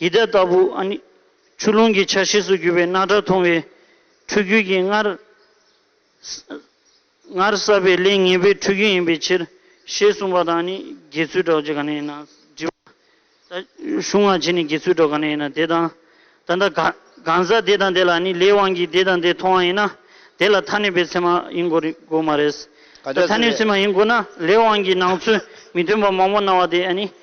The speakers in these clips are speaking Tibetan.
ཡི་དྭགས་ལྟ་བུ་ཨ་ནི། ཆུ་ཀླུང་གི་ཆ་ཤས་སུ་གྱུར་པའི་རྣག་ཁྲག་འཐུང་བའི་ཕྲུ་གུ་གྱིས་སྔར། སྔར་བསགས་པའི་ལས་ངན་པའི་ཕྲུ་གུ་ཡིན་པའི་ཕྱིར། ཞེས་གསུངས་པ་དང་ཨ་ནི། དགེ་ཚུལ་གྲོགས་ཀྱི་ག་ནས་ཡིན་ན། དྲི་བ། གཞུང་སྔ་ཕྱི་ནས་དགེ་ཚུལ་གྲོགས་ག་ནས་ཡིན་ན་དེ་དང་ད་ལྟ། གང་ཟག་དེ་དང་དེ་ལ་ཨ་ནི་ལས་དབང་གིས་དེ་དང་དེ་མཐོང་བ་ཡིན་ན། དེ་ལ་ཐ་ནུས་པའི་ཚད་མ་ཡིན་དགོས་མ་རེད། ད་ཐ་ནུས་ཚད་མ་ཡིན་དགོས་ན་ལས་དབང་གིས་སྣང་ཚུལ་མི་མཐུན་པ་མང་པོ་སྣང་བ་དེ་ཨ་ནི།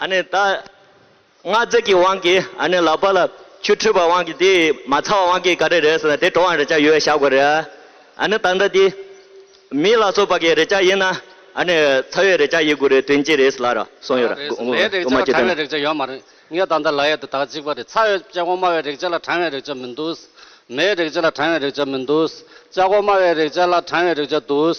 ཨ་ནི་ད། སྔགས་རྫས་ཀྱི་དབང་གིས་ཨ་ནི་ལག་པ་ལ་ཆུ་འཁྲུད་པའི་དབང་གིས་དེ་ཡིས་མ་ཚར་བ་དབང་གིས་ག་རེ་རེད་ཟེར་ན་དེ་གྲོགས་དབང་རེ་ཅག་ཡོད་བཤད་དགོས་རེད། ཨ་ནི་ད་འདྲ་དེ། མི་ལ་སོགས་པ་གི་རེ་ཅག་ཡིན་ན་ཨ་ནི་ཚ་བའི་རེ་ཅག་ཡིན་དགོས་རེད་དོན་ཅི་རེད་ལ་ར་སོང་ཡོད་ར་རེད། ལའི་རེ་ཅག་ལ་གྲང་བའི་རེག་བྱ་ཡོད་མ་རེད། ངས་ད་ལྟ་ལ་ཡེད་དུ་དག་གཅིག་པ་རེད་ཚ་བའི་ལྕགས་སྒོ་དམའ་བའི་རེག་བྱ་ལ་གྲང་བའི་རེག་བྱ་མི་འདུག། མའི་རེག་བྱ་ལ་གྲང་བའི་རེག་བྱ་མི་འདུག། ལྕགས་སྒོ་དམའ་བའི་རེག་བྱ་ལ་གྲང་བའི་རེག་བྱ་འདུག།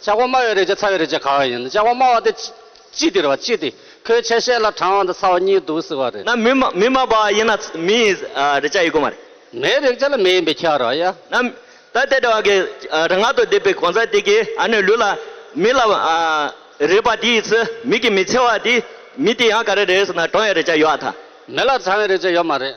ལྕགས་བ་དམའ་བའི་རེག་བྱ་ཚ་བའི་རེག་བྱ་གང་ཡིན་ནམ་ལྕགས་བ་དམའ་བ་དེ་ཅི་དེར་བ་ཅི་དེ་ཁོའི་ཆ་ཤས་ལ་གྲང་བ་དང་ཚ་བ་གཉིས་འདུག་ཟེར་བ་རེད། ན་མི་མི་དམའ་བ་ཡིན་ན་མི་ཡི་རེག་བྱ་ཡིན་དགོས་མ་རེད། མེའི་རེག་བྱ་ལ་མེ་ཡིན་པའི་ཁྱད་རོ་ཡ། ན་མི་ད་དེ་འདྲ་བ་གི་རང་ངག་ཏུ་བསྡེབས་པའི་གོང་ཚ་དེ་གི་ཨ་ནུའི་ལུས་ལ་མི་ལ་རེག་པ་དེའི་ཚེ་མི་གི་མི་ཚེ་བ་དེ་མི་དེ་ཡང་ག་རེ་རེད་ཟེར་ན་གྲང་བའི་རེག་བྱ་ཡོད་ཨ་ཐ། མི་ལ་གྲང་བའི་རེག་བྱ་ཡོད་མ་རེད།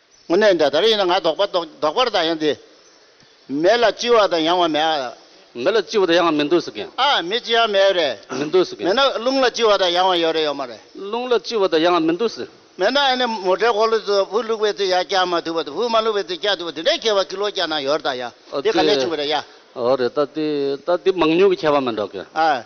དངོས་གནས་འདི་ལྟར་ཡིན་ན་ང་ལྡོག་པ་ལྡོག་པར་ད་ཡང་འདི། མེ་ལ་ལྕི་བ་དང་ཡང་བ་མེད་ཨ། མེ་ལ་ལྕི་བ་དང་ཡང་བ་མི་འདུག་ཟེར་གི། ཨ་མི་ལྕི་ཡང་མེད་རེད། མི་འདུག་ཟེར་གི། མེད་ན་རླུང་ལ་ལྕི་བ་དང་ཡང་བ་ཡོད་རེད་ཡོད་མ་རེད། རླུང་ལ་ལྕི་བ་དང་ཡང་བ་མི་འདུག་ཟེར། མེད་ན་ཨ་ནི་མོ་འདྲེ་འཁོར་ལོ་དུ་བུ་བླུགས་པའི་ཚེ་ཡ་སྐྱག་མ་ཐུབ་པ་དུ་བུ་མ་བླུགས་པའི་ཚེ་སྐྱག་ཐུབ་པ་དེ་འདྲའི་ཁྱད་པར་ཀི་ལོ་སྐྱག་ན་ཡོད་རེད་ད་ཡ། འོ་དེ་ག་ནས་བྱུང་བ་རེད་ཡ། འོ་རེད་ད་དེ་ད་དེ་མང་ཉུང་གི་ཁྱད་པར་མི་འགྲོ་གི། ཨ།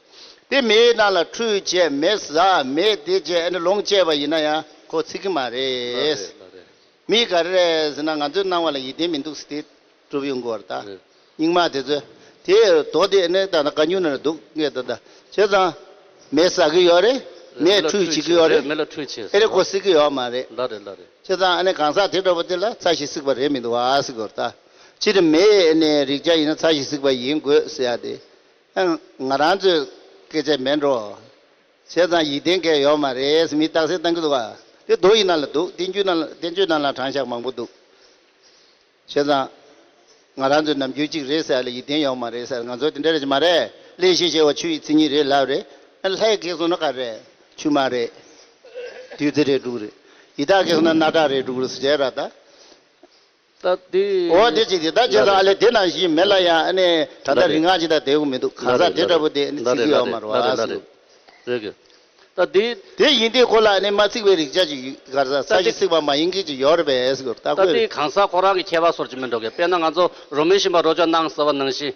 དེ་མེད་ན་ལ་ཁྲུས་བྱས་མེད་ཟ་མེད་དེ་བྱས་ཨ་ནི་ལོངས་སྤྱད་པ་ཡིན་ན་ཡང་ཁོ་ཚིག་གི་མ་རེད། མི་ག་རེ་རེད་ཟེར་ན་ང་ཚོའི་སྣང་བ་ལ་ཡིད་བརྟན་མི་འདུག་སྟེ་གྲུབ་ཡོང་གི་བར་ད་སྙིགས་མ་དེ་ཚོས་དེ་དོགས་དེ་ཨ་ནི་ད་ནི་ག་ཉུང་ན་ནི་སྡུག་ངས་ད་ད་བྱས་ཙང་མེད་ཟ་གི་ཡོད་རེད་མེད་ཁྲུས་བྱེད་ཀྱི་ཡོད་རེད་ཨེ་རེད་ཁོ་སྲིད་ཀྱི་ཡོད་མ་རེད། བྱས་ཙང་ཨ་ནི་གང་ཟག་དེ་འདྲ་བོ་དེ་ལ་ཚ་ཞིག་སྲིད་པ་རེད་མི་འདུག་བ་སྲིད་གི་བར་ད་ཕྱི་དྲི་མེད་ཨ་ནི་རིག་བྱ་ཡིན་ན་ཚ་ཞིག་སྲིད་པ་ཡིན་དགོས་ཟེར་ཡ་དེ་ཨང། ང་རང་ཚོས་སྐད་ཆ་མེད་འགྲོ། བྱས་ཙང་ཡིད་བརྟན་སྐལ་ཡོད་མ་རེད་མི་རྟག་སེ་བཏང་གི་འདུག་ག་དེ་རྡོ་ཡི་ནང་ལ་འདུག་བསྟན་བཅོས་ནང་ལ་དྲང་བཞག་མང་པོ་འདུག་བྱས་ཙང་ང་རང་ཚོས་ནམ་རྒྱུན་གཅིག་རེད་ཟེར་ཡ་ལ་ཡིད་བརྟན་ཡོད་མ་རེད་ཟེར་ང་ཚོ་དེ་འདྲ་རེད་ཀྱི་མ་རེད་གླེན་བཤད་བྱས་བ་ཆུ་ཡི་ཚིག་གཉིས་རེད་ལབ་རེད་ཨང་ལྷའི་སྐད་གསུང་ན་ག་རེད་ཆུ་མ་རེད་བདུད་རྩི་རེད་འབྲུག་རེད་ཡི་དྭགས་སྐད་གསུང་ན་རྣག་ཁྲག་རེད་འབྲུག་རུ་སུ་བྱས་ར་ད། ད་དེ་འོ་དེ་ཅིག་དེ་ལྟར་བྱས་སོང་ཨ་ལེ་དེ་ནང་བཞིན་མེད་ལ་ཡང་ཨ་ནེ་ད་ལྟ་རིག་སྔགས་ཅི་ལྟར་དེའུ་མི་འདུག་གང་ཟག་དེ་འདྲ་བོ་དེ་ཨ་ནེ་ཚིག་གིས་ཨོ་མ་རོ་ཨ་ཟེར་འདུག། རེད་གི། ད་དེ། དེ་ཡིན་དེ་ཁོ་ལ་ཨ་ནེ་མ་ཚིག་བའི་རིག་ཆ་ཅིག་ཡོད་གར་ཟ་ས་ཞིག་ཚིག་པ་མ་ཡིན་གི་ཅིག་ཡོད་རེད་པས་ཨེས་གོ་ད་ལྟ་དེ་གང་ཟག་ཁོ་རང་གི་ཁྱད་པར་སོར་ཅིག་མིན་འགྲོ་གི་དཔེར་ན་ང་ཚོ་རོ་མི་ཞིམ་པ་རོ་ཅོ་སྣང་ཟེར་བ་ནང་བཞིན།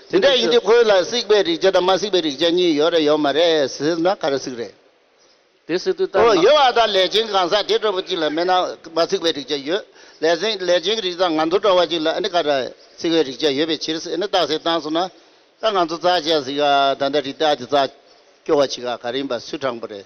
དེ་འདྲ་ཡིན་དུས་ཁོའི་ལ་སིག་པའི་རིག་བྱ་དང་མ་སིག་པའི་རིག་བྱ་གཉིས་ཡོད་རེད་ཡོད་མ་རེད་ཟེར་ན་ག་རེ་སིག་རེད། དེ་སིག་དུས་ལྟར་ན། ཡོད་བ་དང་ལས་ཅན་གང་ཟག་དེ་སྤྲོ་བ་ཅིག་ལ་མེད་ན་མ་སིག་པའི་རིག་བྱ་ཡོད། ལས་ཅན་གྱི་རིག་བྱ་དང་ང་ཚོ་སྤྲོ་བ་ཅིག་ལ་ཨ་ནི་ག་རེ་སིག་པའི་རིག་བྱ་ཡོད་པའི་ཕྱིར་ཨ་ནི་རྟགས་གསལ་བཏང་སོང་ན། ད་ང་ཚོ་རྩ་ཆེ་ཟིག་ད་ལྟ་རིག་རྟགས་དེ་རྩ་སྐྱོ་བ་ཅིག་ག་རེ་ཡིན་པ་སུས་དྲངས་པ་རེད།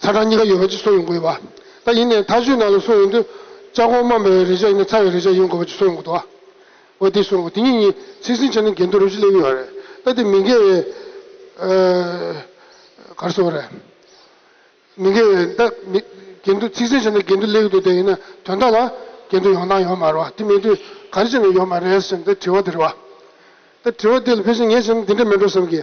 ཚ་གྲང་གཉིས་ཀ་ཡོད་པ་གཅིག་བཟོ་ཡོང་གི་ཡོད་པ། ད་ཡིན་ནའི་ཐག་གཅོད་ནང་ལ་སོང་ཡོང་དུས། ལྕགས་གོང་དམའ་བའི་རེག་བྱ་ཡིན་ན་ཚ་བའི་རེག་བྱ་ཡོང་དགོས་པ་གཅིག་བཟོ་ཡོང་གི་འདུག་ཨ། འོ་དེ་བཟོ་འགོ་དེ་གཉིས་གཉིས་ཚིག་ཟིན་བྱས་ན་འགལ་འདུ་རབ་ཞི་སླེབས་ཡོད་རེད། ད་དེ་མི་འགལ་བའི། གར་བཟོ་བ་རེད། མི་འགལ་བའི་ད་མི། འགལ་འདུ་ཚིག་ཟིན་བྱས་ན་འགལ་འདུ་སླེབས་ཀྱི་འདུག་དེ་ཡིན་ན་དོན་དག་ལ། འགལ་འདུ་ཡོང་སྟངས་ཡོད་མ་རེད་བ། དེ་མེད་དུས་ག་རེ་བྱས་ནས་ཡོང་མ་རེད་ཟེར་ནས་དེ་དྲི་བ་དེ་རེད་བ། ད་དྲི་བ་དེ་ལ་ཕལ་ཆེར་ངས་བྱས་ན་འདི་འདྲ་མིན་འགྲོ་བསམ་གི།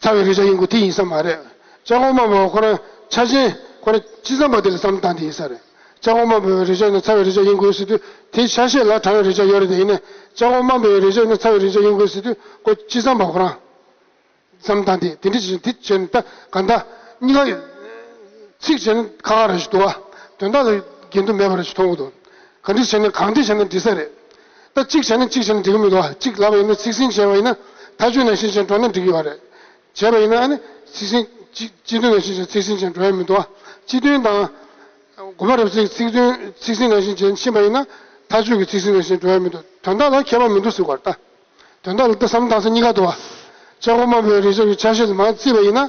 ཚ་བའི་རེག་བྱ་ཡིན་དགོས་དེ་ཡིན་ས་མ་རེད། ལྕགས་ཀོང་མ་བོ་ཁོ་རང་ཆ་ཆེན་ཁོ་རང་ཅི་བསམ་པ་དེ་ལ་བསམ་བཏང་དེ་ཡིན་ས་རེད། ལྕགས་ཀོང་མ་བོའི་རེག་བྱ་ནི་ཚ་བའི་རེག་བྱ་ཡིན་དགོས་ཟེར་དུས་དེ་ཆ་ཤས་ལ་གྲང་བའི་རེག་བྱ་ཡོད་རེད་དེ་ཡིན་ནས་ལྕགས་ཀོང་མ་བོའི་རེག་བྱ་ནི་ཚ་བའི་རེག་བྱ་ཡིན་དགོས་ཟེར་དུས་ཁོ་ཅི་བསམ་པ་ཁོ་རང་བསམ་བཏང་དེ་དེ་འདྲ་བྱེད་ཅིང་དེ་བྱས་ནས་ད་ག་ད་གཉིས་ཀ་ཚིག་བྱས་ན་ཁ་ཁ་ར་ཞིག་འདུག་བ་དོན་དག་ལ་འགལ་འདུ་མེད་པ་ར་ཞིག་མཐོང་གི་འདུག་ག་འདྲ་བྱས་ནས་གང་འདྲ་བྱས་ན་འགྲིག་ས་རེད། ད་གཅིག་བྱས་ན་གཅིག་བྱས་ན་འགྲིག་གི་མི་འདུག་ཨ་གཅིག་ལབ་པ་ཡིན་ན་ཚིག་ཟིན་བྱས་པ་ཡིན་ན་ཐ་ཆུ་ནང་བཞིན་བྱས་འགྲོ་ན་འགྲིག་གི་ཡོད་རེད། བྱས་པ་ཡིན་ན་ཨ་ནི་ཚིག་ཟིན་སྤྱི་སྤྱི་མཐུན་ནང་བཞིན་བྱས་ཚིག་ཟིན་བྱས་འགྲོ་ཡ་མི་འདུག་ཨ་སྤྱི་མཐུན་དང། དགོན་པ་རབ་ཚིག་ཚིག་མཐུན་ཚིག་ཟིན་ནང་བཞིན་བྱས་ཕྱིན་པ་ཡིན་ན་ཐ་ཆུ་གི་ཚིག་ཟིན་ནང་བཞིན་འགྲོ་ཡ་མི་འདུག་དོན་དག་ལ་ཁྱད་པར་མི་འདུག་ཟེར་བར་ལྟ། དོན་དག་ལ་ལྟ་བསམ་བཏང་ས་གཉིས་ཀ་འདུག་ཨ། ལྕགས་སྒོ་དམར་པོའི་རི་ལྕགས་ཀྱི་ཆ་ཤས་ལ་མ་བརྩིས་པ་ཡིན་ན།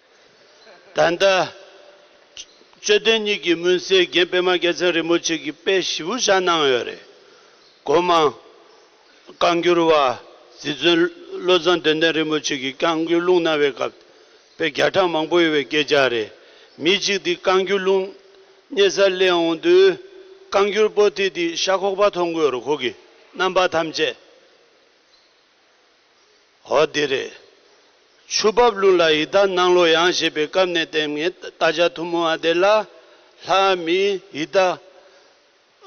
ད་ལྟ། དཔྱོད་ལྡན་གཉིས་ཀྱིས་མུན་སེལ་རྒྱན་པད་མ་རྒྱལ་མཚན་རིན་པོ་ཆེ་གི་དཔེ་བཞི་བོ་བཞག་གནང་ཡོད་རེད། སྒོ་མང། བཀའ་འགྱུར་བ། རྗེ་བཙུན་བློ་བཟང་དོན་ལྡན་རིན་པོ་ཆེ་གིས་བཀའ་འགྱུར་ལུང་གནང་བའི་སྐབས་དཔེ་བརྒྱ་ཕྲག་མང་པོ་ཡོད་པའི་སྐད་ཆ་རེད། མི་གཅིག་དེ་བཀའ་འགྱུར་ལུང་གནས་སར་གླེང་འོང་དུས། བཀའ་འགྱུར་པོ་ཏི་དེ་ཤ་ཁོག་པ་མཐོང་དགོས་རུ་ཁོག་གི་རྣམ་པ་ཐམས་ཅད། འོ་དེ་རེད། ཆུ་འབབ་ཀླུང་ལ་ཡི་དྭགས་སྣང་ལོ་ཡང་ཞེས་པའི་སྐབས་ནས་བསྟན་ངས་བལྟ་བྱ་ཐུང་མོ་ཨ་དེ་ལ། ལྷའི་མི་ཡི་དྭགས།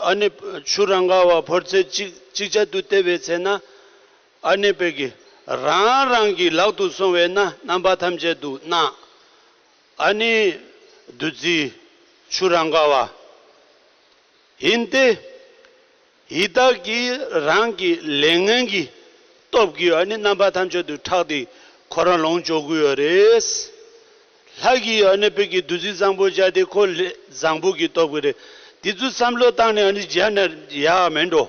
ཨ་ནེ། ཆུ་རང་ག་བ་ཕོར་ཚད་གཅིག་གཅིག་ཆ་དུ་བལྟས་པའི་ཚེ་ན། ཨ་ནེ་བལ་གྱི། རང་རང་གི་ལག་ཏུ་སོང་བས་ན་རྣམ་པ་ཐམས་ཅད་དུ་སྣང། ཨ་ནེ། བདུད་རྩི། ཆུ་རང་ག་བ། ཡིན་ཏེ། ཡི་དྭགས་ཀྱིས་རང་གི་ལས་ངན་གྱི་སྟོབས་ཀྱིས་ནི་རྣམ་པ་ཐམས་ཅད་དུ་ཁྲག་དེ་ཁོ་རང་ལོངས་སྤྱོད་དགོས་ཡོད་རེད། ལྷ་གིས་ནི་བོད་ཀྱི་བདུད་རྩི་བཟང་པོ་བཅའ་དེ་ཁོ་ལས་བཟང་པོ་གྱི་སྟོབས་ཀྱིས་རེད། དེ་ཚོ་བསམ་བློ་བཏང་ནས་ནི་བརྗེད་ན་ཡག་མེད་འགྲོ།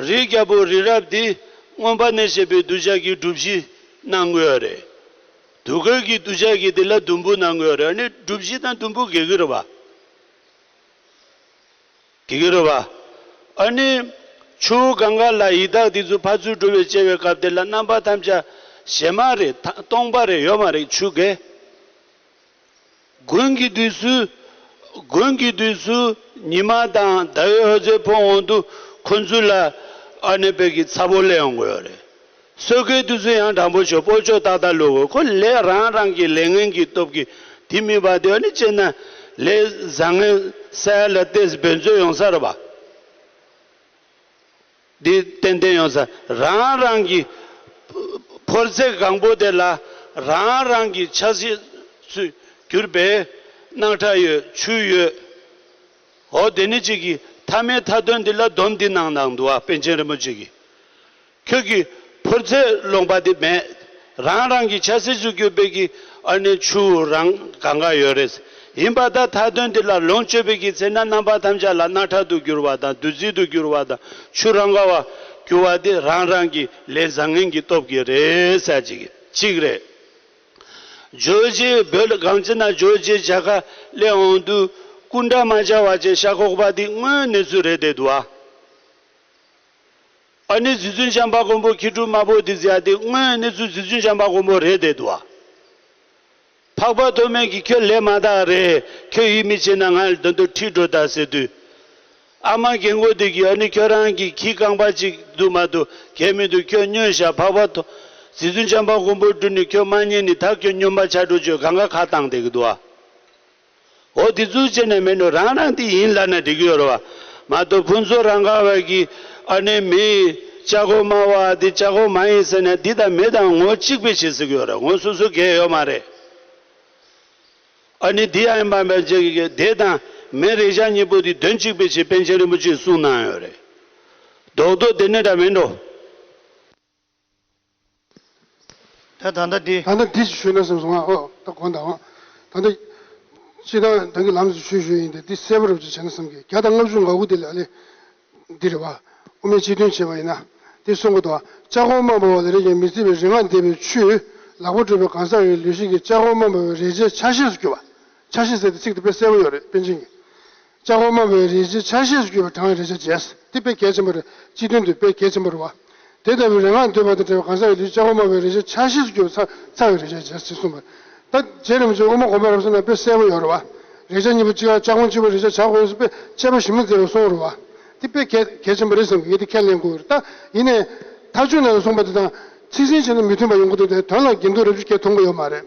རིགས་བརྒྱ་པོ་རི་རབ་དེ་སྔོན་པ་ནས་བཤད་པའི་གདུལ་བྱ་གྱི་སྒྲུབ་གཞི་གནང་དགོས་ཡོད་རེད། དུས་འཁོད་ཀྱི་གདུལ་བྱ་གྱི་དེ་ལ་དུམ་བུ་གནང་དགོས་ཡོད་རེད་ནི་སྒྲུབ་གཞི་དང་དུམ་བུ་འགེལ་གི་རེད་བ། དེ་གུ་རུ་བ། ཨཱ་ནི། ཆུ་བོ་གངྒ་ལ་ཡི་དྭགས་འདི་ཚོ་ཕར་ཚུར་འགྲོ་བའི་སྐྱེ་བའི་སྐབས་དེ་ལ་རྣམ་པ་ཐམས་ཅད་ཞེ་མ་རེད་ད་སྟོང་པ་རེད་ཡོད་མ་རེད་ཆུ་རྒལ། དགུན་གྱི་དུས་སུ། དགུན་གྱི་དུས་སུ་ཉི་མ་དང་ཟླ་བའི་འོད་ཟེར་འཕོ་འོང་དུ་ཁོ་ཚུར་ལ་ཨཱ་ནི་བོད་ཀྱི་ཚ་བོ་ལས་ཡོང་གི་ཡོད་རེད། སྲོལ་རྒྱུན་དུས་ཚོད་ཡང་དྲང་པོ་ཆོད་པོ་ཆོད་ཏག་ཏག་ལུས་དགོས་ཁོ་ལས་རང་རང་གི་ལས་ངན་གྱི་སྟོབས་ཀྱིས་དེ་མིན་པ་དེ་བ་ནི་སྤྱིར་ན་ལས་བཟང་ངན་གསལ་ལ་ཏེ་བེད་མཛོད་ཡོང་ས་རེད་པ། དེ་ཏན་ཏན་ཡོང་ས་རང་རང་གི་ཕོར་རྩེ་གང་པོ་དེ་ལ་རང་རང་གི་ཆ་སྲིད་སུས་གྱུར་པའི་སྣག་ཁྲ་ཡོད་ཆུ་ཡོད་འོ་དེ་ནི་གཅིག་གིས་མཐའ་མའི་མཐའ་དོན་འདི་ལ་སྡོམ་འདི་གནང་གནང་འདུག་ཨ་དཔེ་ཆེན་རིན་པོ་ཆེ་གིས། ཁྱོད་ཀྱི་ཕོར་རྫས་སློང་པ་དེ་མེད། རང་རང་གི་ཆ་སྲིད་ཟུག་གྱོད་དཔལ་གྱི་ཨར་ནི་ཆུ་བོ་རང་ག་འགའ་ཡོད་རེད། ཡིན་པ་ད་ཐ་དོན་འདི་ལ་ལོངས་སྤྱོད་པའི་གི་ཚེ་ན་རྣམ་པ་ཐམས་ཅད་ལ་སྣ་ཁྲག་ཏུ་གྱུར་བ་དང་བདུད་རྩི་དུ་གྱུར་བ་དང་ཆུ་རང་ག་བ་གྱུར་བ་དེ་རང་རང་གི་ལས་བཟང་ངན་གྱི་སྟོབས་ཀྱིས་རེད་ཟེར་གྱི་གཅིག་རེད། རྗོད་བྱེད་བོད་སྒང་ཅི་ན་རྗོད་བྱེད་བྱ་དགའ་སླེ་འོང་དུས་སྐུ་འདྲ་མ་བྱ་བ་ཅན་ཤ་ཁོག་པ་འདི་དངོས་གནས་ཚུལ་རེད་དེ་འདུག་ཨ། ཨ་ནི་རྫི་ཚུལ་འཇམ་པ་གོང་པོ་ཁྱི་ཕྲུག་དམར་པོ་འདི་ཟེར་ཡ་དེ་དངོས་གནས་ཚུལ་རྫི་ཚུལ་འཇམ་པ་གོང་པོ་རེད་བསྡད་འདུག་བ། འཕགས་པ་མཐོ་དམན་གྱི་ཁྱོད་ལས་མ་དག་རེད་ཁྱོད་ཡིད་མི་ཆེས་ན་ང་ལ་དོན་དུ་ཁྲིད་འགྲོ་ད་ཟེར་དུས། ཨ་མ་རྒན་མགོ་བདེ་གིས་ཨ་ནི་ཁྱོད་རང་གི་ཁྱི་རྐང་པ་ཅིག་འདུག་མ་འདུག་གལ་མི་འདུག་ཁྱོད་སྨྱོས་བཞག་འཕགས་པ་མཐོ། རྫི་ཚུལ་འཇམ་པ་གོང་པོ་སྤྲུལ་ནས་ཁྱོད་མ་ཉན་ནི་ད་ཁྱོད་སྨྱོན་པ་ཆགས་འགྲོ་ཆོས་ག་འགའ་ཁ་བཏང་བསྡད་གི་འདུག་བ། འོ་དེ་ཚོའི་རྗེས་ནས་མེད་ནོ་རང་རང་དེ་ཡིན་ལབ་ན་འགྲིག་གི་ཡོད་རེད་བ། མ་གཏོགས་ཕུན་ཚོགས་རང་ག་བར་གྱི་ཨ་ནེ་མི་ལྕགས་སྒོ་དམར་བ་འདི་ལྕགས་སྒོ་མ་ཡིན་ཟེར་ནས་འདི་དང་མི་དང་ངོ་གཅིག་པའི་བྱེད་ཟིག་གི་ཡོད་རེད་ངོ་སོ་སོ་འགལ་ཡོད་མ་རེད། ཨ་ནེ་འདི་ཡང་ཡིན་པ་མ་བརྗེད་གི་གི་དེ་དང་མི་རེ་ཞག་གཉིས་པོ་འདི་དོན་གཅིག་པའི་བྱེད་པན་ཆེན་རིན་པོ་ཆེས་གསུངས་གནང་ཡོད་རེད། རྡོག་རྡོག་དེ་ནི་འདྲ་མིན་འགྲོ། ད་ད་ལྟ་འདི། ད་ལྟ་འདི་ཞེས་ཞུས་ན་སེམས་སུ་ང་ཨོ་ད་གོ་འདའ་འང། ད་ལྟ། ཕྱི་དང་དོན་གྱི་ལམ་ཞེས་ཞུས་ཞུས་ཡིན་ཏེ་འདི་གསལ་པོར་རོ་ཅེས་བྱས་ན་སེམས་ཀྱི་བརྒྱ་དང་ལྔ་བཅུ་འགའ་གུ་དེ་ལས་ལས། འདི་རེ་བ། དབུ་མའི་སྤྱི་དོན་བྱེད་པ་ཡིན་ན། འདི་གསུང་གོ་ད། ལྕགས་གོང་མ་འབར་བ་ལ་རེག་ཀྱང་མི་བརྩི་བའི་རིག་སྔགས་བཟླས་པའི་ཆུས། ལག་པ་བཀྲུས་པའི་གང་ཟག་གི་ལུས་ཤིང་གི་ལྕགས་གོང་མ་འབར་བའི་རེག་བྱའི་ཆ་ཤས་སུ་གྱུར་པ། ཆ་ཤས་ཟེར་ཏེ་ཚིག་དེ་དཔེ་གསལ་པོ་ཡོད་རེད་དཔེ་འབྱིན་གྱི། ལྕགས་འོ་མ་བའི་རིན་ཆེན་ཆ་ཤས་སུ་གྱུར་པའི་གྲངས་རེ་ཆ་བརྒྱད། དེ་དཔེ་གལ་ཆེན་པོ་རེ། སྤྱི་དོན་དུ་དཔེ་གལ་ཆེན་པོ་རེ་བ། དེ་ལྟ་བུའི་རེ་སྔགས་འདོད་པ་དང་བྲལ་བའི་གང་ཟག་གི་ལུས་ལྕགས་འོ་མ་བའི་རིན་ཆེན་ཆ་ཤས་སུ་གྱུར་པའི་ཚ་ཚ་བའི་རེ་ཆ་བརྒྱད་ཅེས་གསུངས་པ། ད་རྗེས་རིམ་བྱོན་དབུ་མ་གོང་མའི་རབ་གསུངས་ན་དཔེ་གསལ་བོ་ཡོད་རེ་བ། རེ་ཆ་གཉིས་པོ་གཅིག་ཨ་ལྕགས་ཁུང་གཅིག་པོ་རེ་ཆ་བྱ་དགོས་སོ་དཔེ་དཔྱད་པ་ཞིབ་མོ་མཛད་པས་གསུངས་རེ་བ། དེ་དཔེ་གལ་གལ་ཆེན་པོ་རེད་བསམ་གི་ངེད་དེ་ཁས་ལེན་དགོས་རེ་ད། ཡིན་ནས། ཐ་ཆུ་ནང་ནས་གསུངས་པ་དེ་དང་ཚིག་ཟིན་བྱས་ན་མི་མཐུན་པ་ཡོང་གི་འདུག་དེ་དོན་ལ་དགེ་འདུན་རབ་བྱུས་ཁྱེད་མཐོང་གི་ཡོད་མ་རེད།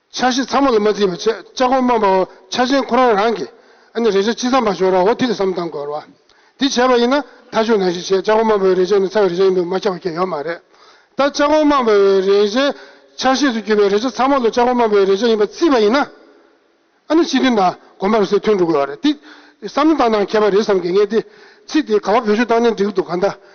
འཆར་གཞི་ཚང་མ་ལ་མ་བརྩིས་པར་ཆེད་བཅའ་སྒོར་མ་པའོ་འཆར་གཞིའི་ཁོ་རང་རང་གིས་ཨ་ནི་རེ་ཆག་ཅི་བསམ་པ་ཞོག་ར་ཨོ་ཐི་ལ་བསམ་སྟངས་གོལ་བ། འདི་བྱས་པ་ཡིན་ན་མཐའ་ཆོད་ནང་བཞིན་ཆེད་བཅའ་སྒོར་མ་པའོའི་རེ་ཆག་ནི་ཚ་བའི་རེ་ཆག་ཡིན་འདུག་མ་ཁྱབ་བ་ཁྱེད་ཡོད་མ་རེད། ད་བཅའ་སྒོར་མ་པའོའི་རེ་ཆག་འཆར་གཞིས་སུ་གྱུར་པའི་རེ་ཆག་ཚང་མ་ལ་བཅའ་སྒོར་མ་པའོའི་རེ་ཆག་ཡིན་པ་བརྩིས་པ་ཡིན་ན། ཨ་ནི་སྤྱི་དོན་དང་དགོན་པར་སོས་ཐོན་འགྲོ་དགོས་བ་རེད། འདི་བསམ་བློ་བཏང་སྟངས་མཁས་པ་རེད་བསམ་གྱི་ངས་འདི་ཚིག་འདི་ག་བ་བེད་སྤྱོད་བཏང་ནས་འགྲིག་གི་འདུག་ག་འདའ་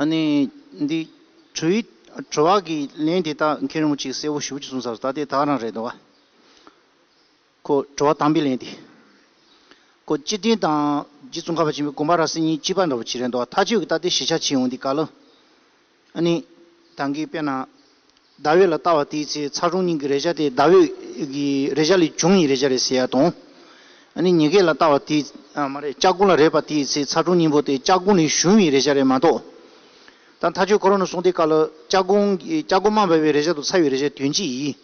ཨ་ནི། འདི། བྲུ་ཡིག། བྲུ་བ་གི་ལན་དེ་དག་མཁན་རིན་པོ་ཆེས་གསལ་བོ་ཞུ་བྱེད་གསུངས་ས་རུ་ད་ལྟའི་དག་རང་རེད་འདུག་ག། ཁོ། བྲུ་བ་དམ་པའི་ལན་དེ། ཁོ། སྤྱི་དོན་དང། རྗེ་བཙུན་ཁ་བ་ཆེན་པོའི་དགོངས་པ་ར་སེ་གཉིས་གཅིག་པ་འདྲ་བོ་བྱེད་རན་འདུག་ག་ཐག་ཆོད་ཀྱི་ད་ལྟའི་གཞི་ཆགས་བྱེད་འོང་འདི་ག་ལ། ཨ་ནི། ད་གིས་དཔེར་ན། ཟླ་འོད་ལ་ལྟ་བ་དེའི་ཚེ་ཚ་གྲང་སྙིང་གི་རེག་བྱ་དེ་ཟླ་འོད་ཀྱི་རེག་བྱ་ལས་བྱུང་ཡི་རེག་བྱ་རེད་ཟེར་ཡ་དང། ནི་ཉེ་སྐད་ལ་ལྟ་བ་དེ། ཨ་མ་རེད་ལྕགས་སྒོང་ལ་རེག་པ་དེའི་ཚེ་ཚ་གྲང་སྙིང་པོ་དེ་ལྕགས་སྒོང་ལས་བྱུང་བའི་རེག་བྱ་རེད་མ་གཏོགས། ད་མཐའ་ཆོས་འཁོར་རོ་ནི་གསུང་དེ་ཀ་ལ་ལྕགས་སྒོང་ལྕགས་སྒོང་མ་འབབ་པའི་རེག་བྱ་དང་ཚ་བའི་རེག་བྱའི་དོན་ཅི་ཡིན།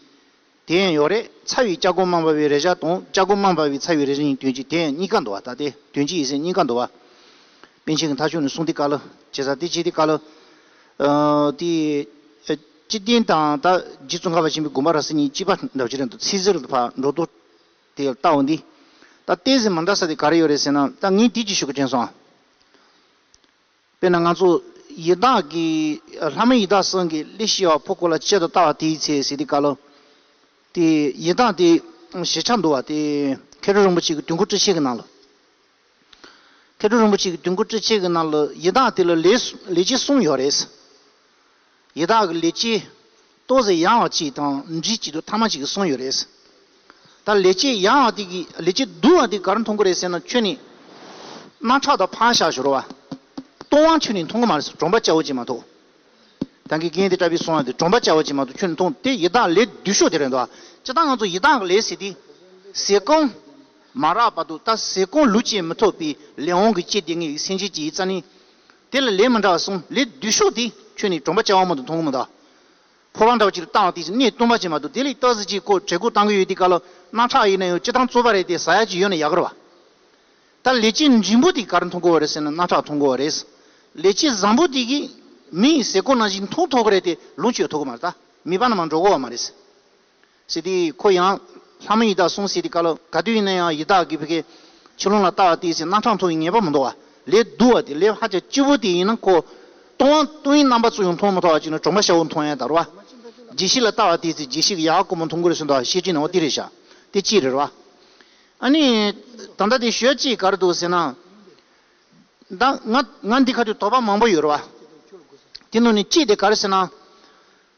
དེ་ཡང་ཡོད་རེད་ཚ་བའི་ལྕགས་སྒོ་མང་བ་བའི་རེ་བཞག་དང་ལྕགས་སྒོ་མང་བ་བའི་ཚ་བའི་རེ་རེ་ཡིན་དོན་གྱིས་དེ་ཡང་གཉིས་ཀ་འདུ་བ་ལྟ་སྟེ་དོན་གྱིས་ཡིད་སེམས་གཉིས་ཀ་འདུ་བ། པན་ཆེན་གྱི་མཐའ་ཕྱོགས་ནས་གསུང་དེ་བཀའ་ལ་བྱེད་ས་དེ་བྱེད་དེ་བཀའ་ལ། དེ། སྐྱིད་ལྡན་དང་ད་རྗེ་བཙུན་ཁ་བ་ཆེན་པོའི་དགོན་པ་ར་བཟི་གཉིས་སྐྱིད་པ་འདྲ་བྱེད་རན་འདུག་ཚིག་གཟེར་ལ་ཕར་འགྲོ་འདུག་དེ་ལྟ་བུ་འདི། ད་བལྟས་ཟིན་མ་འདྲ་ས་དེ་ག་རེ་ཡོད་རེད་ཟེར་ན་ད་ངས་དེ་ཅི་ཞུ་གི་དྲན་སོང་ཨ། དཔེར་ན་ང་ཚོ་ཡི་དྭགས་ཀྱི། ལྷ་མོ་ཡི་དྭགས་སྲང་གི་གླེགས་ཤེལ་བ་ཕོ་ཁོ་ལ་ཅད་དུ་བལྟ་བ་དེའི་ཚེ་ཟིལ་གྱིས་བཀལ་ལོ། དེ་ཡི་དྭགས་དེ་ཞེས་བྱ་འདུལ་བ་དེ་མཁས་གྲུབ་རིན་པོ་ཆེ་གི་དུས་འཁོར་བཀྲི་བྱེད་ཀྱི་ནང་ལོ། མཁས་གྲུབ་རིན་པོ་ཆེ་གི་དུས་འཁོར་བཀྲི་བྱེད་ཀྱི་ནང་ལོ་ཡི་དྭགས་དེ་ལ་ལས་ལས་ཅི་གསུངས་ཡོད་རེད། ཡི་དྭགས་ཀྱི་ལས་ཀྱིས་ལྟོ་ཟས་ཡང་བ་གཅིག་དང་འབྲི་གཅིག་ཏུ་ཐ་མ་གཅིག་གསུངས་ཡོད་རེད། ད་ལས་ཀྱིས་ཡང་བ་དེ་གི་ལས་ཀྱིས་བསྡུ་བ་དེ་གར་མཐོང་གི་རེད་ཟེར་ན་ཁྱོད་ནི་སྣ་ཁྲག་དང་ཕག་ཞག་ཞོར་བ། སྟོང་བ་ཁྱོད་ནི་མཐོང་གི་མ་རེད་ཟེར་གྲོང་པ་སྐྱ་བོ་གཅིག་མ་གཏོགས། དང་གི་རྒན་དེ་ལྟ་བུས་གསུངས་བ་དེ་གྲོང་པ་སྐྱ་བོ་གཅིག་མ་གཏོགས་ཁྱོད་ནི་མཐོང་དེ་ཡི་དྭགས་ལས་བསྡུས་ཤོག་དེ་རེད་འདུག་སྤྱིར་བཏང་ང་ཚོ་ཡི་དྭགས་ཀྱི་ལས་ཟེར་དེ་ཟས་གོང་མ་རག་པ་འདུག་ད་ཟས་གོང་ལུས་ཅན་མི་ཐོབ་པའི་ལས་འོང་གི་སྐྱེས་དེ་ངའི་སེམས་ཅན་གྱི་ཡིད་རྩ་ནི། དེ་ལ་ལས་མི་འདྲ་བ་གསུམ་ལས་བདུད་ཤོག་དེ་ཁྱོད་ནི་གྲོང་པ་ཅན་དབང་མོ་དང་མཐོང་གི་མོ་དང། ཕོ་བྲང་དྲག་ཅིག་ཏུ་བཏང་བ་དེ་བཞིན་གནས་བསྟུན་པ་བྱེད་མ་ཐུབ་དེ་ལས་སྟག་གཟིག་ཅིག་ཁོ་གྲལ་སྒོ་གཏང་གི་ཡོད་དེ་ཀ་ལོ་སྣ་ཁྲག་ཡིན་ན་ཡང་ཅི་ཐང་རྩོད་པ་རེད་དེ་ཟ་ཡག་ཅིག་ཡོད་ན་ཡག་གི་རེད་བ། ད་ལས་བྱེད་མགྲིན་པོ་དེ་གར་མཐོང་གི་བ་རེད་ཟེར་ན་སྣ་ཁྲག་མཐོང་གི་བ་རེད། ལས་བྱེད་བཟང་པོ་དེ་གིས་མིའི་ཟས་གོ་ན་བཞིན་འཐུང་ཐོག་གི་རེད་དེ་ལུང་ཆོས་ཐོག་གི་མ་རེད་ད་མིད་པ་ན་མ་འགྲོ་གི་བ་མ་རེད། ཟེར་ཏེ་ཁོ་ཡང། ལྷ་མོ་ཡི་དྭགས་སོང་ཟེར་ཏེ་བཀའ་སློབ་ག་དུས་ཡིན་ན་ཡང་ཡི་དྭགས་ཀྱི་བུ་གའི་ཆུ་ཀླུང་ལ་བལྟ་བ་དེའི་ཚེ་སྣ་ཁྲང་འཐུང་བའི་ངེས་པ་མི་འདུག་བ་ལས་བསྡུ་བ་དེ་ལས་ཧ་ཅང་སྐྱིད་པོ་དེ་ཡིན་ན་ཁོ། སྟོང་བ་སྟོང་ཡིན་རྣམ་པ་ཚོ་ཡང་མཐོང་མི་ཐོག་བ་ཅིག་ནི་གྲོང་པ་ཤ་བོ་མཐོང་ཡང་དར་བ། རྗེས་ཤིག་ལ་བལྟ་བ་དེའི་ཚེ་རྗེས་ཤིག་གི་ཡག་ཀོ་མོ་མཐོང་དགོས་རེ་ཟུང་དང་ཤེས་ཀྱིན་ནའོ་དེ་རེད་བྱ་དེ་ཅི་རེད་བ། ཨ་ནི། ད་ལྟ་དེ་ཞོལ་ཅིག་གར་འདུག་ཟེར་ན། ད་ང་ང་འདི་ག་དུས་དོགས་པ་མང་པོ་ཡོད་རེད་བ། དེ་ནང་ནས་ཅིག་དེ་གར་ཟེར་ན།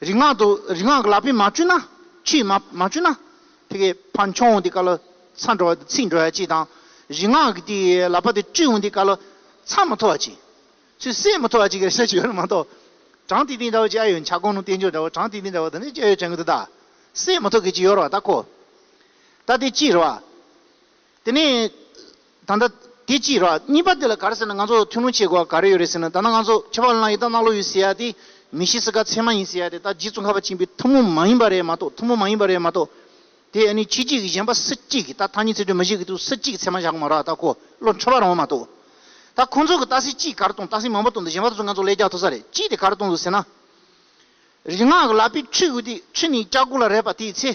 རིག་སྔགས་དུ་རིག་སྔགས་ལག་པས་མ་བཅུ་ན། ཆུས་མ་མ་བཅུ་ན། དེ་ཀའི་བ་མཆོང་འོང་དེ་ཀ་ལ། ཚ་འགྲོ་བ་དེ་ཚིག་འགྲོ་བ་ཅི་དང། རིག་སྔགས་ཀྱི་དེ་ལག་པ་དེ་བཅུས་འོང་དེ་ཀ་ལ། ཚ་མ་ཐོ་བ་ཅི། ཚུལ་བསད་མ་ཐོ་བ་ཅི་ཀ་རེ་ས་ཅི་ཡོད་ན་མ་ཐོ། གྲངས་དེ་དེ་འདྲ་བ་ཅི་ཨ་ཡོད་བྱ་གོང་ནོ་བསྟན་བཅོས་འདྲ་བ་གྲངས་དེ་དེ་འདྲ་བ་དང་ནི་ཅི་ཨ་ཡོད་བྱ་འགུལ་དུ་གདའ། བསད་མ་ཐོ་གི་ཅི་ཡོར་བ་ད་ཁོ། ད་དེ་ཅི་རུ་བ། དེ་ནས། ད་ལྟ། དེ་ཅི་ར། གཉིས་པ་དེ་ལ་ག་རེ་ཟེར་ན་ང་ཚོ་ཐུགས་སྣང་ཆེ་གོ་ག་རེ་ཡོད་རེད་ཟེར་ན་ད་ནང་ང་ཚོ་ཁྱད་པར་བླངས་ཡིད་དང་རྣ་ལོ་ཡོད་ཟེར་ཡ་དེ། མི་ཤེས་སེ་ག་ཚད་མ་ཡིན་ཟེར་ཡ་དེ་ད་རྗེ་བཙུན་ཁ་བ་ཆེན་པོའི་ཐུགས་མོ་མ་ཡིན་པ་རེད་མ་གཏོགས་ཐུགས་མོ་མ་ཡིན་པ་རེད་མ་གཏོགས། དེ་ནི་ཁྱེད་ཅིག་གིས་གཞན་པ་སུ་གཅིག་གིས་ད་ཐ་སྙད་ཚིག་སྒྲོས་མི་བཞེད་ཀི་འདུག་སུ་གཅིག་གིས་ཚད་མ་བཞག་གི་མ་ར་ད་གོ་བློ་འཁྲོལ་བ་རང་བ་མ་གཏོགས། ད་ཁོང་ཚོ་གིས་ད་སྲིད་ཅིག་ག་རེ་གཏོང་ད་སྲིད་མང་པོ་གཏོང་འདུག་གཞན་པ་དེ་ཚོ་ང་ཚོ་ལས་རྒྱག་ཐུབ་ས་རེད་ཅིག་དེ་ག་རེ་གཏོང་འདུག་ཟེར་ན། རིག་སྔགས་ལ་པའི་ཁྲུས་དགོས་དུས་ཁྲུས་ནི་སྐྱག་ཁུ་ལ་རས་པ་དེའི་ཚེ།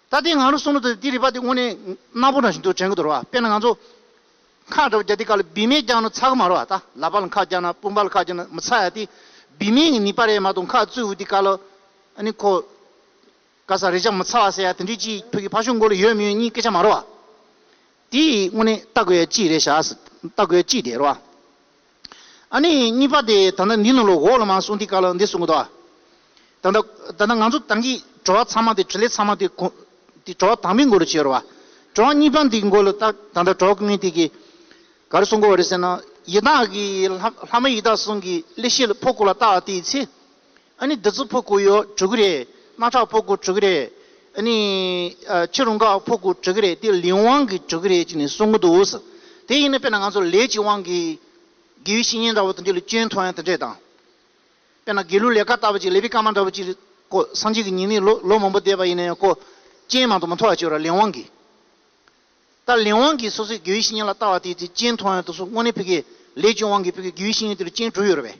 ད་ལྟའི་ང་རོ་གསུང་རོ་དང་དེའི་རིག་པ་དེ་དངོས་གནས་སྣ་བུག་ན་བཞིན་དུ་དྲན་གྱི་འདུག་རོ། དཔེར་ན་ང་ཚོ། ཁ་བྲོ་བརྒྱ་སྟེ་ཁ་ལ་བི་མས་བརྒྱག་ན་ཚ་གི་མ་རོ་བ་ད་ལ་པ་ལ་ཁ་བརྒྱག་ན་སྤུན་པ་ལ་ཁ་བརྒྱག་ན་མི་ཚ་ཡ་སྟེ། བི་མས་ངི་ནི་པ་རེ་མ་གཏོགས་ཁ་བཙོས་འུ་དེ་ཀ་ལ། ཨ་ནི་ཁོ། ཀ་ས་རེ་བྱ་མི་ཚ་བ་ཟེར་ཡ་དེ་འདྲའི་ཅི་ཕོ་ཁི་ཕ་ཤུག་མགོ་ལ་ཡོད་མི་ཡོད་གཉིས་སྐད་ཆ་མ་རོ་བ། དེ་ཡི་དངོས་གནས་ལྟ་དགོས་ཡ་ཅི་རེད་བྱ། ལྟ་དགོས་ཡ་ཅི་དེ་རོ་བ། ཨ་ནི་གཉིས་པ་དེ་ད་ནི་འདི་ནོ་ལོ་འོག་ལ་མ་སོང་འདི་ག་ལ་འདི་སོང་གི་འདུག་ད་ད་ད་ནི་ང་ཚོ་ཏང་གི་བྲོ་བ་ཚང་མ་དེ་ཁྲི་ལས་ཚང་མ་དེ་གོ་དེ་བྲོ་བ་དང་པོའི་འགོ་རུ་བྱེད་རོགས་བ་བྲོ་བ་གཉིས་པ་འདི་འགོ་ལོ་ཏག་ད་ད་བྲོ་བ་གཉིས་དེ་གི་ག་རུ་སོང་གི་བ་རེད་ཟེར་ན་ཡི་དྭགས་གི་ལྷ་མོ་ཡི་དྭགས་སོང་གི་ཀླད་ཤེད་ལ་ཕོག་གོ་ལ་ལྟ་བ་དེའི་ཚེ། ཨ་ནི་བདུད་རྩི་ཕོ་དགུ་ཡོད་དྲུག་རེད། རྣག་ཁྲག་ཕོ་དགུ་དྲུག་རེད། ཨ་ནི། ཕྱི་རུ་འགག་ཕོ་དགུ་དྲུག་རེད་དེ་ལིའུ་ཝང་གིས་དྲུག་རེད་ཅིག་ནས་གསུང་གི་འདུག་ཟེར། དེ་ཡིན་ན་དཔེར་ན་ང་ཚོ་ལས་ཀྱི་དབང་གིས། དགེ་བའི་བཤེས་གཉེན་འདྲ་བོ་དང་དེ་ལ་སྐྱོན་མཐོང་ཡང་དེ་འདྲས་དང། དཔེར་ན་དགེ་ལུགས་ལས་ཀ་བལྟ་བ་ཅིག་ལས་པའི་བཀའ་མ་འདྲ་བོ་ཅིག་རེད་ཀོ་སངས་རྒྱས་ཀྱི་ཉི་མས་ལོ་མང་པོ་འདས་པ་ཡིན་ན་ཡང་ཀོ། སྐྱེན་མང་དུ་མ་མཐོ་བ་ཅིག་ར་ལས་དབང་གིས། ད་ལས་དབང་གིས་སོ་སོའི་དགེ་བའི་བཤེས་གཉེན་ལ་བལྟ་བ་དེ་དེ་སྐྱེན་མཐོང་ཡང་དུ་སོ་དངོས་གནས་ཕི་གེ་ལས་ཀྱི་དབང་གིས་ཕི་གེ་དགེ་བའི་བཤེས་གཉེན་དེ་ལ་སྐྱེན་དྲུག་ཡོད་རེད་པས།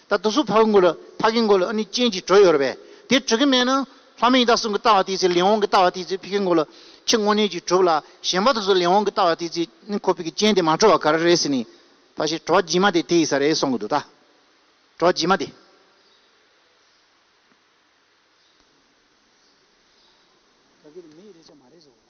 ད་དུང་སུ་འཕགས་མགོ་ལ་འཕགས་ཀྱི་མགོ་ལ་ཨ་ནི་སྤྱན་གྱིས་བྲོས་ཡོད་པས་དེ་གྲུ་གི་མེད་ན། ལྷ་མིན་ཡི་དྭགས་གསུམ་གྱི་ལྟ་བ་དེའི་ཚེ་ལིང་ཧོང་གི་ལྟ་བ་དེའི་ཚེ་ཕི་ཀའི་མགོ་ལ་ཁྱི་སྔོ་ནད་ཀྱིས་གྲུབ་ལ་གཞན་པ་དུ་སུ་ལིང་ཧོང་གི་ལྟ་བ་དེའི་ཚེ་ནི་ཁོ་ཕི་ཀའི་སྤྱན་དེ་མ་བྲོ་བ་ག་རེ་རེད་ཟེར་ནས་ད་ཞེས་བྲོ་བ་རྗེས་མ་དེ་དེ་ཡི་ས་རེད་གསུང་གི་འདུག་ད་བྲོ་བ་རྗེས་མ་དེ། ག་གེ་རེ་མི་ཡི་རེ་བྱ་མ་རེད་ཟེར་བ་ལ།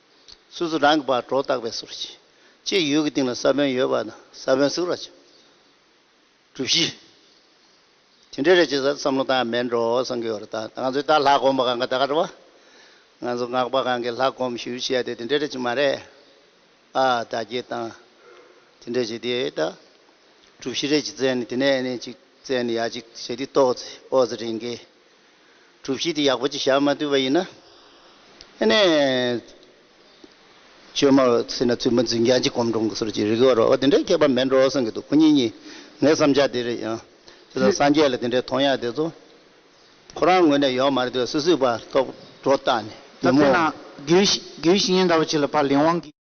སོ་སོ་རང་གི་བར་གྲོགས་བརྟག་པའི་ཟུར་གྱིས། ཅེས་ཡུལ་གྱི་སྟེང་ལ་ས་བོན་ཡོད་པ་ན་ས་བོན་གཟུགས་ར་བྱ། གྲུ་བཞི། དེ་འདྲའི་རེ་བྱེད་ས་བསམ་བློ་བཏང་ཡང་མེད་འགྲོ་སང་གི་འོད་ར་ད་ང་ཚོའི་ད་ལྷ་སྒོམ་པ་གང་ག་ད་ག་འགྲོ་བ། ང་ཚོ་སྔགས་པ་གང་གིས་ལྷ་སྒོམ་ཞུ་བྱས་ཏེ་དེ་འདྲའི་རེ་བྱེད་མ་རེད་ཨ། ད་རྒྱས་བཏང། དེ་འདྲའི་བྱེད་དེ་ད། གྲུ་བཞི་རེ་བྱེད་རྩལ་ནི་དེ་ནས་ཨེ་ནས་ཅིག་རྩལ་ནི་ཡ་ཅིག་བྱེད་དེ་ཏོག་ཙེ་ཨོ་ཙེ་རེ་འགའི། གྲུབ་གཞི་དེ་ཡག་པོ་ཅིག་བཞག་མ་འདུས་པ་ཡིན་ན། ཨ་ནེ། བཅོས་མ་བ་སེ་ན་བཙུན་པ་འཛིན་རྒྱང་ཅིག་གོམ་འགྲོང་གི་ཟུར་གྱི་རིགས་བར་བ་དེ་འདྲའི་མཁས་པ་མེད་འགྲོ་གསུང་གི་འདུག་ཁོ་གཉིས་གཉིས་ངའི་བསམ་འཆར་དེ་རེད་ཡང། དེ་དང་སངས་རྒྱས་ལ་དེ་འདྲའི་མཐོང་ཡག་དེ་ཚོ། ཁོ་རང་ངོས་ནས་ཡོང་མ་རེད་དུས་སུད་སུད་པ་ལྟོགས་འགྲོ་བཏགས་ནས་བདུད་མོ། ད་ཐེངས་ན་རྒྱུན་བཞིན་ཉིན་ཟླ་བ་གཅིག་ལ་ཕ་ལིང་དབང་གིས།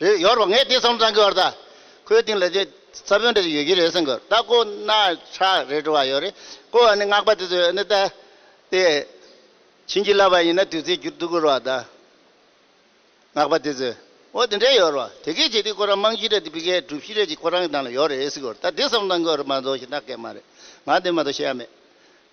རེད་ཡོད་རེད་ངས་དེ་ཙམ་ཙམ་གི་བར་ད་ཁོའི་སྟེང་ལ་དེ་ས་བོན་འདྲ་ཡོད་ཀྱི་རེད་སེམས་གོ་ད་ཀོ་ན་ཧྲ་རེད་བྲོ་བ་ཡོད་རེད་ཀོ་ཨ་ནི་སྔགས་པ་དེ་ཚོས་ཨ་ནི་ད་དེ་བྱིན་གྱིས་བརླབས་པ་ཡིན་ན་དུས་ཚོད་བསྒྱུར་འདུག་གོ་རོ་བ་ད་སྔགས་པ་དེ་ཚོས་ཨོ་དེ་འདྲ་ཡོད་རོ་བ་དེ་སྐད་བྱས་དུས་ཁོ་རང་རྨང་གཞི་རེད་དེ་བི་གའི་སྒྲུབ་གཞི་རེད་ཅེས་ཁོ་རང་གི་ནང་ལ་ཡོད་རེད་སེམས་གོ་ད་དེ་ཙམ་ཙམ་གི་བར་མ་རྫོགས་ཤིག་ད་སྐད་མ་རེད་ང་དེ་མ་གཏོགས་བཤད་ཡ་མེད།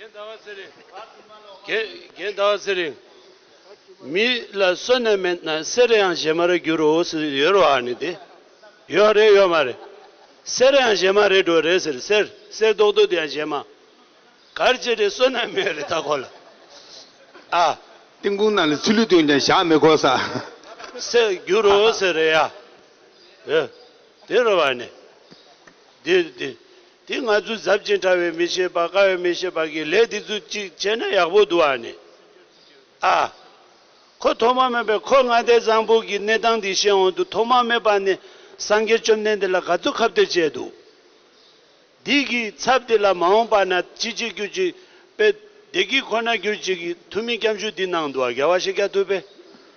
རྒན་ཟླ་བ་ཚེ་རིང། རྒན་ཟླ་བ་ཚེ་རིང། མི་ལ་བསོད་ནམས་མེད་ན་སེ་ར་ཡང་གཞས་མ་རེད་འགྱུར་འོ་ཟེར་ཡོད་རེད་བ་ནི་དེ་ཡོད་རེད་ཡོད་མ་རེད། སེ་ར་ཡང་གཞས་མ་རེད་འགྲོ་རེད་ཟེར་སེར་སེར་རྡོག་རྡོག་དེ་ཡང་གཞས་མ། གར་བྱེད་རེད་བསོད་ནམས་མེད་རེད་ད་གོ་ལ་ཨ། ཏིང་ཀུང་ནང་ལ་ཚུལ་ལུས་སྟོན་ཀྱང་བཞག་མི་དགོས་ས། ཟེར་འགྱུར་འོ་ཟེར་རེད་ཡ། དེ་རེད་བ་ནི། འདི་འདི་འདི་ང་ཚོ་གཟབ་ཅིང་ཕྲ་བའི་མི་ཤེས་པ་དཀའ་བའི་མི་ཤེས་པ་གིས་ལས་འདི་ཚོ་གཅིག་བྱས་ན་ཡག་པོ་འདུག་ཨ་ནི་ཨ། ཁོ་ཐོག་མ་མེད་པས་ཁོ་ང་ལྟའི་བཟང་པོ་གིས་གནས་སྟངས་འདི་ཤེས་འོང་དུ་ཐོག་མ་མེད་པ་ནས་སངས་རྒྱས་བཅོམ་ལྡན་འདས་ལ་ག་ཚོད་ཁ་བསྟོད་བྱས་འདུག་འདི་གི་ཚབ་དེ་ལ་མ་འོངས་པ་ན་ཅི་བྱེད་ཀྱུ་ཅིག་དཔེ་བདེ་སྐྱིད་ཁོ་ན་གྱུར་ཅིག་གིས་ཐུ་མི་སྐྱབས་ཞུ་འདི་གནང་འདུག་ཨ་རྒྱལ་བ་ཤེས་རྒྱ་ཐུབ་པས།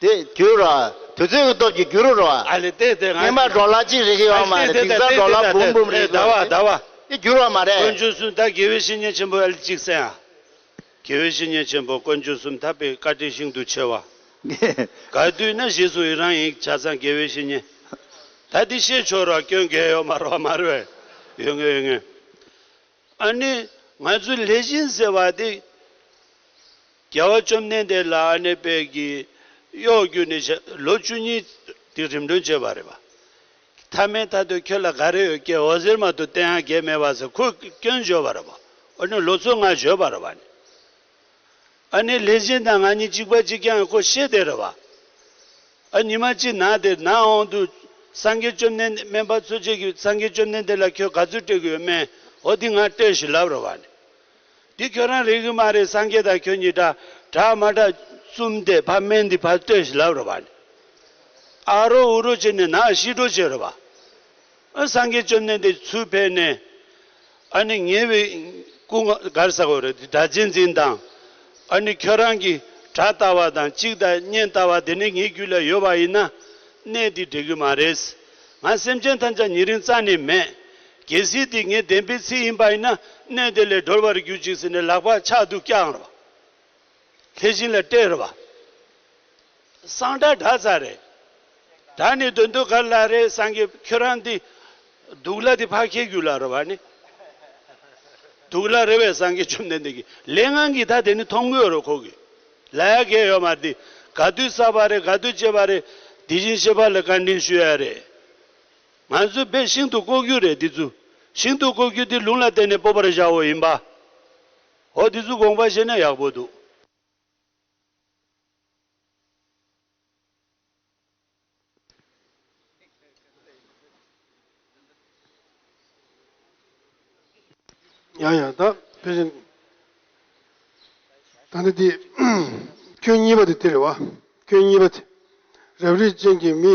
དེ་རྒྱུ་རུ། དུས་ཚོད་ཀྱི་སྟོབས་ཀྱིས་རྒྱུ་རུ་རུ། སྙན་པ་འགྲོ་ལ་ཅིག་རེ་གི་ཡོད་མ་རེད་དིང་སང་འགྲོ་ལ་འབུམ་འབུམ་རེ་གི་ཡོད་རེད། དེ་རྒྱུ་རུ་བ་མ་རེད། དཀོན་མཆོག་གསུམ་མཐའ་དགེ་བའི་བཤེས་གཉེན་ཆེན་པོ་ཨལ་ཅིག་སན་ཨ། དགེ་བའི་བཤེས་གཉེན་ཆེན་པོ་དཀོན་མཆོག་གསུམ་མཐའ་དཔེ་བཀའ་དྲིན་ཤིན་ཏུ་ཆེ་བ། ག་དུས་ན་བཞེས་སུ་ཡི་རང་ཡིག་ཆ་ཚང་དགེ་བའི་བཤེས་གཉེན། ད་འདི་བཤད་ཆོག་རུ་བ་སྐྱོན་འགལ་ཡོད་མ་རུ་བ་མ་རུ་བས། ཡོད་ངེས་ཡོད་ངེས། ཨ་ནི་ང་ཚོའི་ལྷས་བྱིན་ཟེར་བ་དེ་རྒྱལ་བ་བཅོམ་ལྡན་འདས་ལ་ཨ་ནེ་དཔལ་གྱིས་གཡོག་རྒྱུ་ནི་ལོ་བཅུ་གཉིས་དེ་རིམ་གྲོན་བྱས་པ་རེད་བ། མཐའ་མའི་མཐའ་དུ་ཁྱོད་ལ་ག་རེ་ཡོད་སྐད་འོ་ཟེར་མ་ཐུབ་བསྟན་ཡང་འགལ་མེད་བ་ཟེར་ཁོས་སྐྱོན་བརྗོད་པ་རེད་བ། འོ་ནི་ལོ་ཚོད་ལྔ་བཞོས་པ་རེད་བ་ནི། ཨ་ནི་ལྷས་བྱིན་དང་ང་གཉིས་གཅིག་པ་གཅིག་རྐྱང་ཁོ་ཤེས་དེ་རེད་བ། ཨ་ཉི་མ་ཅིག་ནག་དེར་ནག་འོང་དུས་སངས་རྒྱས་བཅོམ་ལྡན་འདས་སྨན་པ་ཚོས་བཅས་ཀྱི་སངས་རྒྱས་བཅོམ་ལྡན་འདས་ལ་ཁྱོད་ག་ཚོད་སྤྲད་གི་ཡོད་སྨན་ཧོ་འདི་ང་སྤྲད་ཞིག་ལབ་རེད་བ། འདི་ཁྱོད་རང་རིག་གི་མ་རེད་སངས་རྒྱས་དང་ཁྱོད་གཉིས་འདྲ་གྲགས་མ་གྲགས་བཙུམ་དེ་ཕ་སྨན་འདི་ཕར་སྤྲད་ཞིག་ལབ་རེད་བ། ཨ་རོ་འུ་རོ་བྱས་ནས་ནག་ཤི་འགྲོ་བྱས་རེད་བ། ཨ་སངས་རྒྱས་བཅོམ་ལྡན་འདས་ཚུར་ཕེབས་ནས། ཨ་ནི་ཉེ་བའི་སྐུ་གར་ཟ་གོ་རེ་འདི་དག་རྗེས་འཛིན་དང། ཨ་ནི་ཁྱོད་རང་གིས་གྲྭ་ལྟ་བ་དང་གཅིག་ལྟ་གཉན་ལྟ་བ་དེ་ནི་ངའི་རྒྱུད་ལ་ཡོད་པ་ཡིན་ན། གནས་འདི་འབྲལ་གི་མ་རེད། ང་སེམས་ཅན་ཐམས་ཅད་ཉེ་རིང་རྩ་ནས་མེད། རྒྱལ་སྲིད་འདི་ངས་བདེན་པའི་ཚིག་ཡིན་པ་ཡིན་ན་གནས་འདི་ལས་སྒྲོལ་བར་གྱུར་ཅིག་ཟེར་ནས་ལག་པ་ཕྱག་ཏུ་བཀྱགས། དེ་བཞིན་ལ་སྟེར་བ། གསང་སྒྲ་སྒྲ་རྩ་རེ། སྒྲ་ནི་འདོད་འདོད་གར་ལ་རེ་སངས་རྒྱས་ཁྱོད་རང་འདི། སྡུག་ལ་དེ་ཕ་ཁྱེད་རྒྱུད་ལ་རོལ་བ་ནི། སྡུག་ལ་རེ་བའི་སངས་རྒྱས་བཅོམ་ལྡན་འདས་ཀྱི་ལས་ངང་གིས་ད་དེ་ནི་མཐོང་དགོས་རོ་ཁོ་གི། ལ་ཡ་གས་ཡོད་མ་འདི། ག་དུས་བསགས་པ་རེ་ག་དུས་བཅད་པ་རེ། དེ་བཞིན་གཤེགས་པ་ལ་བཀའ་དྲིན་ཞུ་ཡ་རེ། ང་ཚོའི་བེ་ཤིང་དུ་བཀོག་རྒྱུ་རེ་འདི་ཚུ། ཤིང་དུ་བཀོག་རྒྱུ་འདི་ལུང་ལ་བརྟེན་ནས་སྤོབས་པར་བཞག་འོ་ཡིན་པ། ཨོ་དེ་ཚོའི་དགོངས་པ་བཤད་ན་ཡག་པོ་འདུག། ཡང་ཡང་དང་དེ་བཞིན་ད་ནི་དེ་ཁྱོད་གཉིས་པ་དེ་དེ་རེད་བ། ཁྱོད་གཉིས་པ་དེ་རབ་རིབ་ཅན་གྱི་མི།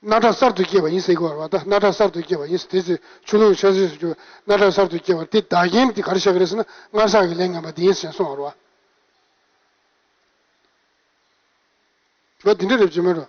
སྣ་ཁྲག་གསར་དུ་སྐྱེས་པ་ཡིན་སྲིད་ཀྱི། བ་ད་སྣ་ཁྲག་གསར་དུ་སྐྱེས་པ་ཡིན་སྲིད། དེ་ཚེ་ཆུ་ཀླུང་ཆར་ཟིལ་སུ་གྱུར་བས་སྣ་ཁྲག་གསར་དུ་སྐྱེས་པར་དེ་བདག་རྐྱེན་དེ་གར་བཤད་ཀྱི་རེད་ཟེར་ན་སྔར་བསགས་ཀྱི་ལས་ངན་པ་འདི་ཡིན་ཟེར་གསུང་བར་བ། ལོ་འདི་འདྲ་རེད་བརྗོད་མི་རུང།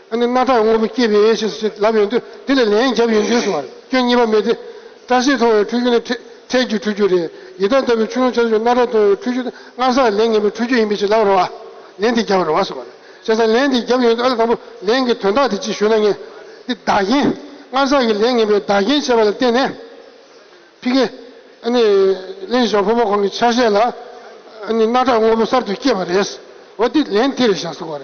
ཨ་ནི་སྣ་ཐག་དངོས་པོ་སྐྱེས་པའི་ཡས་ཞེས་སུ་ལབ་ཡོང་དུས་དེ་ལས་ལན་བརྒྱབ་ཡོང་དུས་སུ་བར་སྐྱོན་གཉིས་པ་མེད་དེ། སྐྲ་སེར་མཐོང་བའི་འཁྲུལ་རྒྱུ་ནི་འཕྲལ་གྱི་འཁྲུལ་རྒྱུ་རེད། ཡི་དྭགས་ལྟ་བུའི་ཆུ་ཀླུང་ཆ་ཚུལ་སྣ་ཐག་མཐོང་བའི་འཁྲུལ་རྒྱུ་ནི་སྔར་སར་ལན་ངན་པའི་འཁྲུལ་རྒྱུ་ཡིན་པས་ཅི་ལབ་རུང་ཨ་ལན་དེ་བརྒྱབ་རུང་ཨ་སུ་བར་བྱས་ཙང་ལན་དེ་བརྒྱབ་ཡོང་དུས་ཨ་ལ་དང་པོ་ལན་གྱི་དོན་དག་དེ་ཅིག་ཞུ་ན་ངེས། འདི་བདག་རྐྱེན། སྔར་སར་གྱི་ལན་ངན་པའི་བདག་རྐྱེན་བྱས་པ་ལ་བརྟེན་ནས། ཕི་ཀེ། ཨ་ནི། གླིང་བཞག་ཕོ་མོ་གང་གི་ཆ་ཤས་ལ། ཨ་ནི་སྣ་ཐག་དངོས་པོ་གསར་དུ་སྐྱེས་པ་རེད། འོ་འདི་ལན་དེ་རེད་བཞག་སུ་བར།